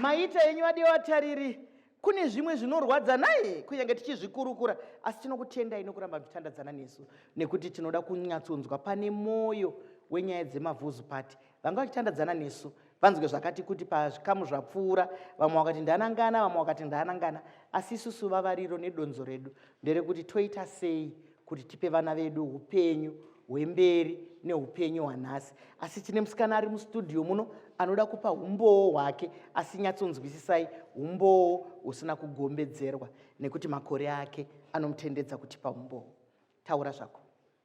maita henyu vadiwa vatariri kune zvimwe zvinorwadza naye kunyange tichizvikurukura asi tinokutendai nokuramba muchitandadzana nesu nekuti tinoda kunyatsonzwa pane mwoyo wenyaya dzemavhuzupati vanga vachitandadzana nesu vanzwe zvakati kuti pazvikamu zvapfuura vamwe vakati ndanangana vamwe vakati ndanangana asi isusu vavariro nedonzo redu nderekuti toita sei kuti tipe vana vedu upenyu hwemberi neupenyu hwanhasi asi tine musikana ari mustudio muno anoda kupa umbowo hwake asi nyatsonzwisisai umbowo husina kugombedzerwa nekuti makore ake anomutendedza kutipa umbowo taura zvako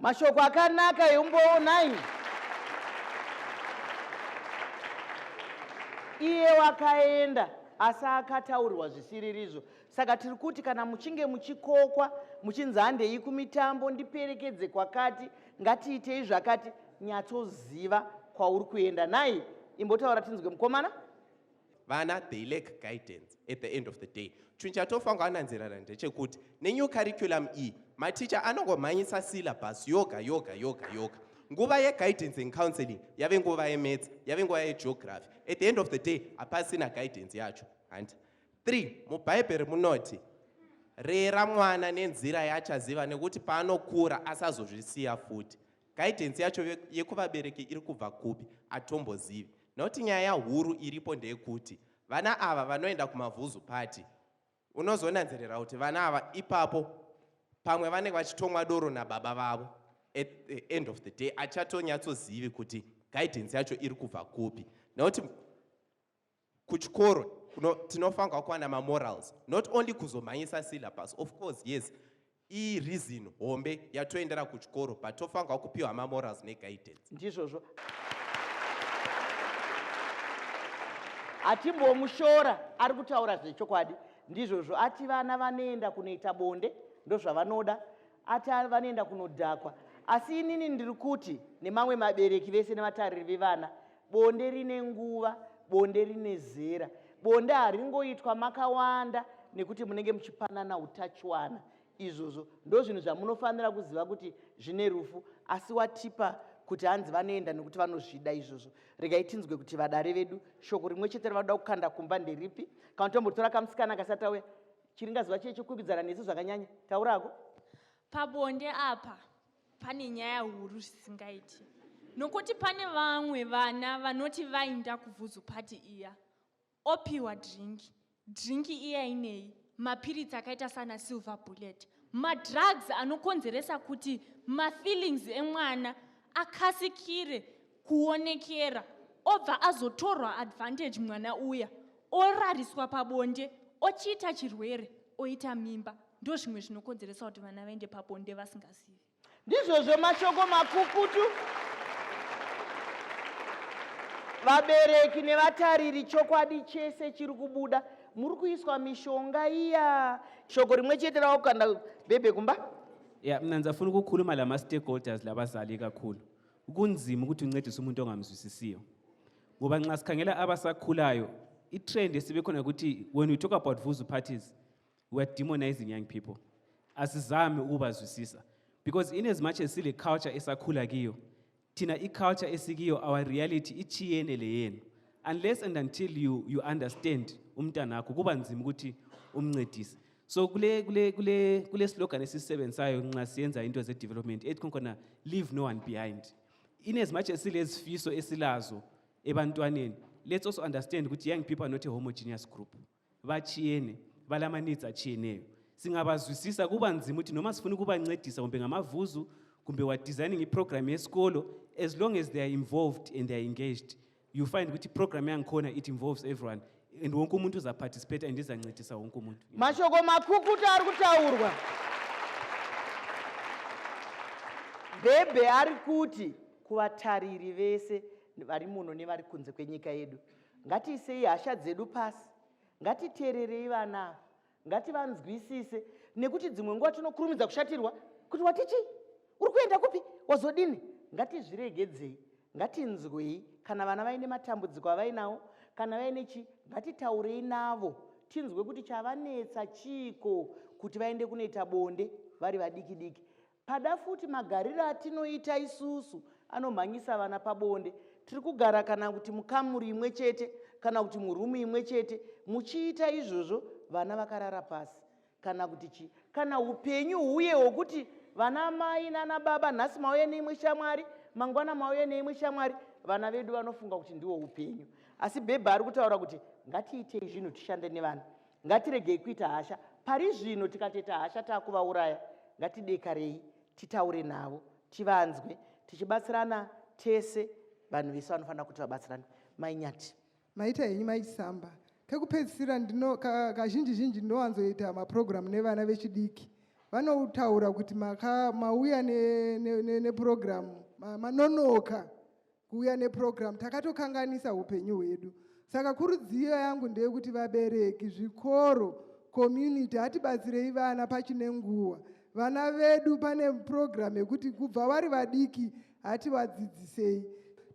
mashoko akanaka eumbowo nai iye wakaenda asi akataurirwa zvisiririzvo saka tiri kuti kana muchinge muchikokwa muchinzi handei kumitambo ndiperekedze kwakati ngatiitei zvakati nyatsoziva kwauri kuenda nai imbotaura tinzwe mukomana vana they lack guidance at the end of the day chinhu chatofanwa ananzirana ndechekuti nenew curriculum iyi maticha anongomhanyisa syllabus yoga yoga yoga yoga nguva yeguidance and counseling yave nguva yemedza yave nguva yegeography at the end of the day hapasina guidance yacho handi three mubhaibheri munoti rera mwana nenzira yaachaziva nekuti paanokura asazozvisiya futi Guidance yacho yekuvabereki iri kubva kupi atombozivi not nyaya huru iripo ndeyekuti vana ava vanoenda kumavhuzu party unozonanzerera kuti vana ava ipapo pamwe vanenge vachitomwa doro nababa vavo at the end of the day achatonyatsozivi kuti guidance yacho iri kubva kupi nekuti kuchikoro no, tinofanirwa kuwana mamorals not only kuzomhanyisa syllabus of course yes ireason hombe yatoendera kuchikoro but tofanirwa kupiwa mamorals neguidance ndizvozvo hatimbomushora ari kutaura zvechokwadi ndizvozvo ati vana vanoenda kunoita bonde ndozvavanoda ati vanoenda kunodhakwa asi inini ndiri kuti nemamwe mabereki vese nevatariri vevana Bonde rine nguva, bonde rine zera. Bonde haringoitwa makawanda nekuti munenge muchipanana utachiwana. Izvozvo ndozvinhu zvamunofanira kuziva kuti zvine rufu asi watipa kuti hanzi vanoenda nekuti vanozvida izvozvo regai tinzwe kuti vadare vedu shoko rimwe chete ravanoda kukanda kumba nderipi kana tombotora kamusikana kasati auya chiringaziva chiye chekukwikwidzana nesu zvakanyanya taurako pabonde apa Pane nyaya huru zvisingaiti nokuti pane vamwe vana vanoti vainda kuvhuzu pati iya opiwa drinki drinki iya inei mapiritsi akaita sana silver bullet madrugs anokonzeresa kuti mafeelings emwana akasikire kuonekera obva azotorwa advantage mwana uya orariswa pabonde ochiita chirwere oita mimba Ndozvimwe zvinokonzeresa kuti vana vaende pabonde vasingazivi. Ndizvozvo mashoko makukutu vabereki nevatariri chokwadi chese chiri kubuda muri kuiswa mishonga iya shoko rimwe chete rawakukanda bhebhe kumba ya mna ndizafuna ukukhuluma la ma-stakeholders labazali kakhulu kunzima ukuthi uncedise umuntu ongamzwisisiyo ngoba nxa sikhangela abasakhulayo i-trend esibe khona ukuthi when we talk about vuzu parties we are demonizing young people asizame ukuvazwisisa because in as much as sile culture esakhula kiyo thina iculture esikiyo our reality ichiyene le yenu unless and until you, you understand umntana akho kuba nzima ukuthi umncedise so kule kule kule kule slogan esisebenzayo nxa siyenza into ze development ethi khona leave no one behind in as much as silezifiso esilazo ebantwaneni let's also understand ukuthi young people are not a homogeneous group Vachiyene valamanidza chiyeneyo singabazwisisa kuba nzimu ti noma sifuni kubancedisa kumbe ngamavhuzu kumbe wa designing iprogram yesikolo as long as they are involved and they are engaged you find kuti program yangikhona it involves everyone and wonke umuntu uzaparticipate and izancedisa wonke umuntu mashoko makukuta ari kutaurwa bhebhe ari kuti kuvatariri vese vari muno nevari kunze kwenyika yedu Ngatiisei hasha dzedu pasi, ngatiteererei vana ava, ngativanzwisise nekuti dzimwe nguva tinokurumidza kushatirwa kuti wati chii, uri kuenda kupi, wazodini. Ngatizviregedzei, ngatinzwei kana vana vaine matambudziko avainawo, kana vaine chii, ngatitaurei navo tinzwe kuti chavanetsa chiiko kuti vaende kunoita bonde vari vadiki diki. Pada futi magariro atinoita isusu anomhanyisa vana pabonde. Tiri kugara kana kuti mukamuri imwe chete kana kuti murumu imwe chete muchiita izvozvo vana vakarara pasi kana kuti chii kana upenyu huye hwokuti vana amai nana baba nhasi mauya neimwe shamwari mangwana mauya neimwe shamwari vana vedu vanofunga kuti ndiwo upenyu asi bhebha ari kutaura kuti ngatiitei zvinhu tishande nevana Ngatiregei kuita hasha pari zvino, tikatoita hasha takuvauraya. Ngatidekarei titaure navo, tivanzwe, tichibatsirana tese. Vanhu vese vanofanira kuti vabatsirane. Mai Nyati. Maita henyu mai Chisamba. Kekupedzisira ndino kazhinji zhinji ndinowanzoita mapurogiramu nevana vechidiki vanotaura kuti maka mauya nepurogiramu ne, ne, ne manonoka kuuya neprogramu takatokanganisa upenyu hwedu saka kurudziyo yangu ndeyekuti vabereki zvikoro community hatibatsirei vana pachine nguva vana vedu pane program yekuti kubva vari vadiki hativadzidzisei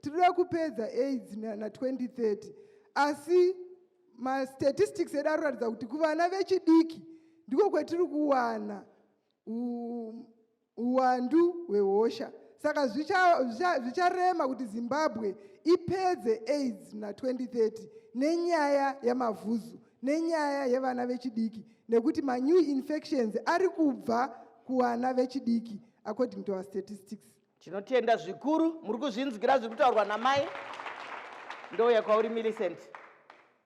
tinoda kupedza aids na2030 asi mastatistics edu aroratidza kuti kuvana vechidiki ndiko kwetiri kuwana Huwandu hwehosha saka zvicharema kuti Zimbabwe ipedze aids muna 2030 nenyaya yamavhuzu nenyaya yevana vechidiki nekuti manew infections ari kubva kuvana vechidiki according to our statistics tinotenda zvikuru muri kuzvinzwira zviri kutaurwa namai ndouya kwauri millicent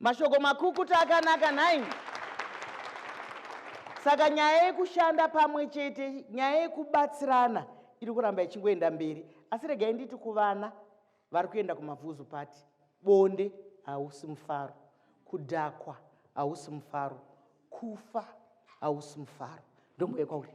mashoko makukutu akanaka nhai saka nyaya yekushanda pamwe chete nyaya yekubatsirana iri kuramba ichingoenda mberi asi regai nditi kuvana vari kuenda kumabvuzu pati bonde hausi mufaro kudhakwa hausi mufaro kufa hausi mufaro ndomboyekwa uri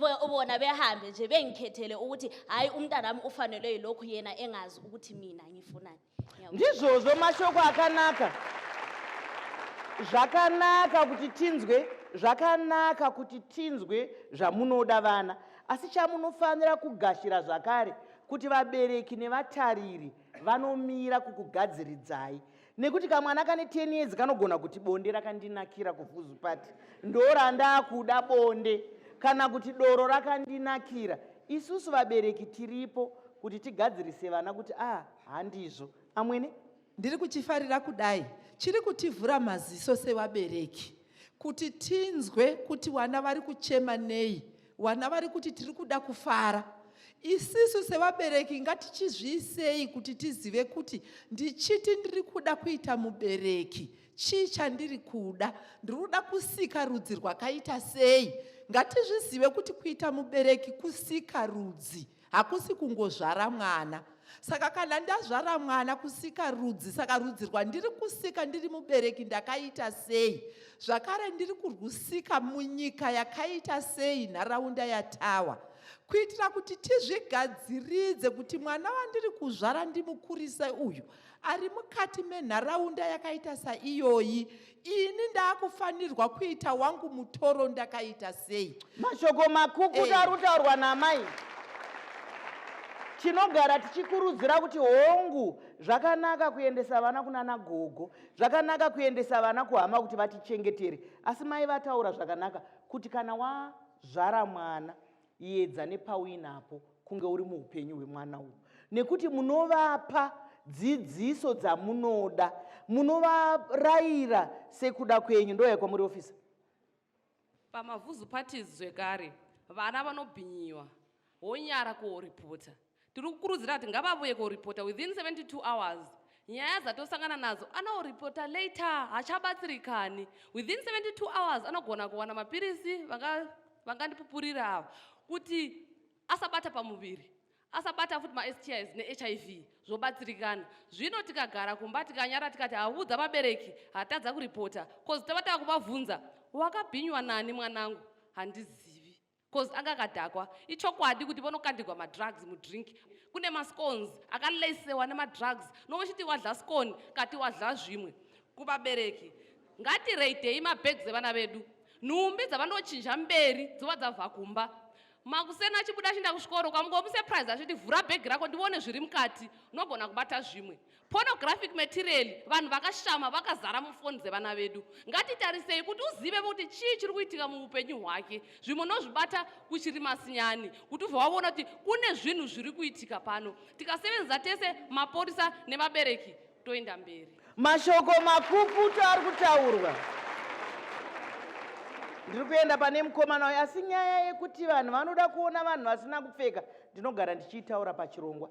Bo- bona behambe nje bengikhethele ukuthi hhayi umntanami ufanelwe yilokhu yena engazi ukuthi mina ngifunani Ngiyabonga. ndizvozvo mashoko akanaka zvakanaka kuti tinzwe zvakanaka kuti tinzwe zvamunoda vana asi chamunofanira kugashira zvakare kuti vabereki nevatariri vanomira kukugadziridzai nekuti kamwana kane 10 years kanogona kuti bonde rakandinakira kufuzu pati ndorandakuda bonde kana kuti doro rakandinakira isusu vabereki tiripo kuti tigadzirise vana kuti a ah, handizvo amwene ndiri kuchifarira kudai chiri kutivhura maziso sevabereki Kuti tinzwe kuti vana vari kuchema nei, vana vari kuti tiri kuda kufara. Isisu sevabereki ngatichizviisei kuti tizive kuti ndichiti ndiri kuda kuita mubereki chii chandiri kuda, ndiri kuda kusika rudzi rwakaita sei. Ngatizvizive kuti kuita mubereki kusika rudzi. hakusi kungozvara mwana saka kana ndazvara mwana kusika rudzi saka rudzi rwandiri kusika ndiri mubereki ndakaita sei zvakare ndiri kurwusika munyika yakaita sei nharaunda yatawa kuitira kuti tizvigadziridze kuti mwana wandiri kuzvara ndimukurise uyu ari mukati menharaunda yakaita saiyoyi ini ndakufanirwa kuita wangu mutoro ndakaita sei mashoko makukutu eh. ari kutaurwa namai tinogara tichikurudzira kuti hongu zvakanaka kuendesa vana kunana gogo zvakanaka kuendesa vana kuhama kuti vatichengetere asi mai vataura zvakanaka kuti kana wazvara mwana yedza nepauinapo kunge uri muupenyu hwemwana uyu nekuti munovapa dzidziso dzamunoda munovarayira sekuda kwenyu ndoya kwamuri ofisa pamavuzu parties zvekare vana vanobhinyiwa wonyara kuoripota Tiri kukurudzira kuti ngavavuye koripota within 72 hours. Nyaya dzatosangana nadzo anoripota later hachabatsirikani. Within 72 hours anogona kuwana mapirisi vangandipupurira ava kuti asabata pamuviri asabata futi maSTIs neHIV zvobatsirikana. Zvino tikagara kumba tikanyara tikati avudza vabereki hatadza kuripota kozi tava tava kuvavhunza wakabhinywa nani mwanangu handizivi. Cause anga akadhakwa. Ichokwadi kuti vonokandirwa madrugs mudrink. Kune mascones akalesewa nemadrugs. Novochiti wadla scone kati wadla zvimwe. Kuvabereki ngatireidhei mabags evana vedu. Nhumbi dzavanochinja mberi dzova dzabva kumba. Makuseni achibuda achinda kuchikoro kwamungomusurprise achiti vhura bhegi rako ndione zviri mukati. Unogona kubata zvimwe. Pornographic material vanhu vakashama vakazara mufoni dzevana vedu. Ngatitarisei kuti uzive kuti chii chiri kuitika muupenyu hwake. Zvimwe unozvibata uchiri masinyani kuti ubva waona kuti kune zvinhu zviri kuitika pano. Tikasevenza tese mapurisa nevabereki toenda mberi. Mashoko makukutu ari kutaurwa. Ndiri kuenda pane mukomana uyu asi nyaya yekuti vanhu vanoda kuona vanhu vasina kupfeka ndinogara ndichiitaura pachirongwa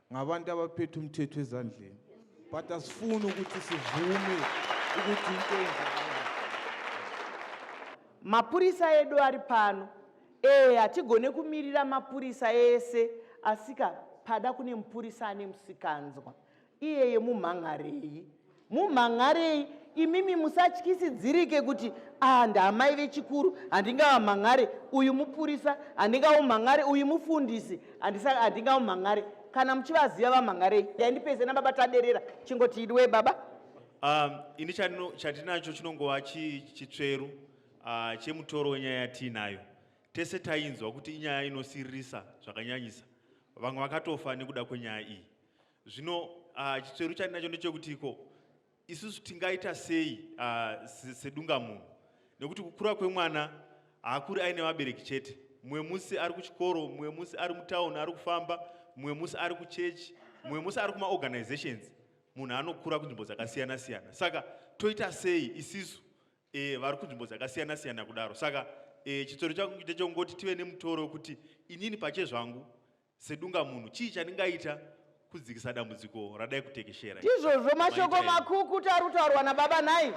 ngavanda vaphethe umthetho ezandleni but asifuni ukuthi sivume ukuthi into mapurisa edu ari pano ee hatigone kumirira mapurisa ese asika pada kune mupurisa ane musikanzwa iyeye mumhan'arei mumhan'arei imimi musatyisidzirike kuti ah ndaamai vechikuru handingavamhan'are uyu mupurisa handingaumhan'are uyu mufundisi handingaumhan'are kana muchivaziva vamhan'arei daindipeze nababa taderera chingoti idiwe baba um, ini chatinacho chinongova chitsveru ah, chemutoro wenyaya yatiinayo tese tainzwa kuti inyaya inosiririsa zvakanyanyisa vamwe vakatofa nekuda kwenyaya iyi Zvino uh, chitsveru chandinacho ndechekuti ko isusu tingaita sei uh, sedunga munhu nekuti kukura kwemwana haakuri aine vabereki chete mumwe musi ari kuchikoro mumwe musi ari mutauni ari kufamba mumwe musi ari kuchechi mumwe musi ari kumaorganizations munhu anokura kunzvimbo dzakasiyana siyana saka toita sei isisu e, vari kunzvimbo dzakasiyana siyana kudaro saka e, chitsoro changu chite chongoti tive nemutoro wekuti inini pache zvangu Sedungamunhu, chii chandingaita kudzikisa dambudziko radai kutekeshera? Ndizvozvo mashoko makukutu ari kutaurwa nababa nhai?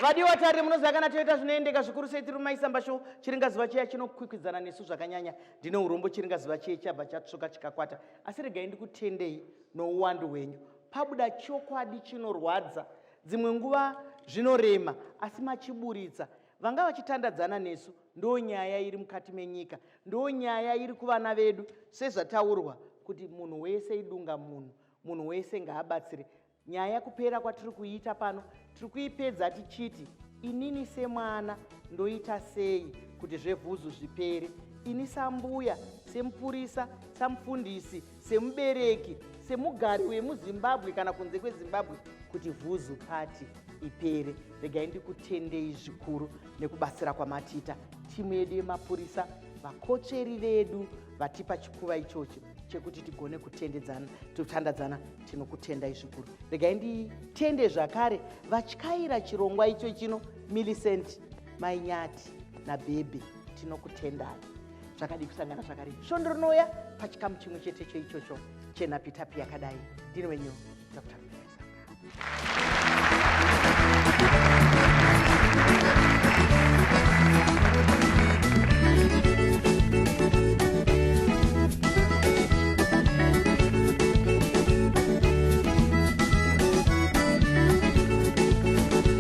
vadiwa tarire munoziva kana toita zvinoendeka zvikuru sei tiri mumaisamba sho chiringazuva chiya chinokwikwidzana nesu zvakanyanya ndine urombo chiringazuva chiye chabva chatsvuka chikakwata asi regai ndikutendei nouwandu hwenyu pabuda chokwadi chinorwadza dzimwe nguva zvinorema asi machiburitsa Vanga vachitandadzana nesu ndo nyaya iri mukati menyika ndo nyaya iri kuvana vedu sezvataurwa kuti munhu wese idunga munhu munhu wese ngaabatsire nyaya kupera kwatiri kuiita pano tiri kuipedza tichiti inini semwana ndoita sei kuti zvevhuzu zvipere ini sambuya semupurisa samufundisi semubereki semugari wemuzimbabwe kana kunze kwezimbabwe kuti vhuzu pati ipere regai ndikutendei zvikuru nekubatsira kwamatiita timu yedu yemapurisa vakotsveri vedu vatipa chikuva ichocho chekuti tigone kutendedzana totandadzana tinokutendai zvikuru regai nditende zvakare vatyaira chirongwa icho chino millicent mainyati nabhebhi tinokutendai zvakadii kusangana zvakare svondo rinouya pachikamu chimwe chete cho ichocho chenhapitapi yakadai ndini wenyu dr